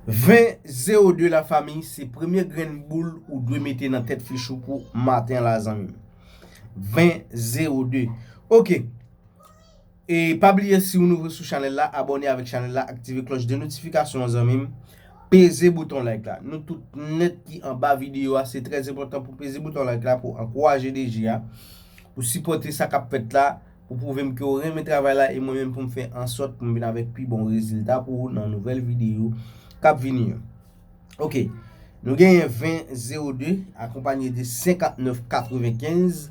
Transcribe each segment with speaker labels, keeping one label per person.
Speaker 1: Vin 0 2 la fami se premye grenn boul ou dwe mete nan tèt fich ou pou maten la zanmi m. Vin 0 2 ok e pa bliye si ou nouvo sou chanèl la abòne avèk chanèl la aktive klòch de notifikasyon an zanmi m peze bouton like la nou tout nèt ki anba videyo a se trè enpòtan pou peze bouton like la pou ankouraje DG a pou sipòte sa kap fèt la. Ou pwouve m ke w renmen travay la e mwen menm pou m fè ansòt pou m vin avèk pi bon rezilta pou ou nan nouvèl videyo k ap vini yo. Ok, nou genyen 20 02 akonpanye de 59 95,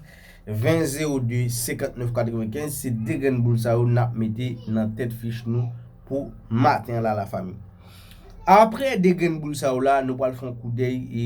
Speaker 1: 20 02 59 95 se 2 grenn boul sa yo n ap mete nan tèt fich nou pou maten an la lafanmi. Apre 2 grenn boul sa yo la nou pral fè yon koudèy e.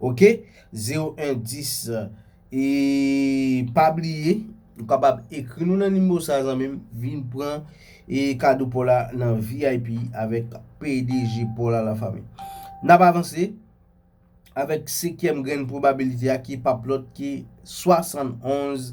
Speaker 1: Ok 0 1 10 e pa bliye ou kapab ekri nou nan nimewo sa zanmim vin pran e kado paw la nan vip avèk pdg paw la la fanmi nap avanse avèk sekyèm grenn pwobabilite a ki pap lòt ke 71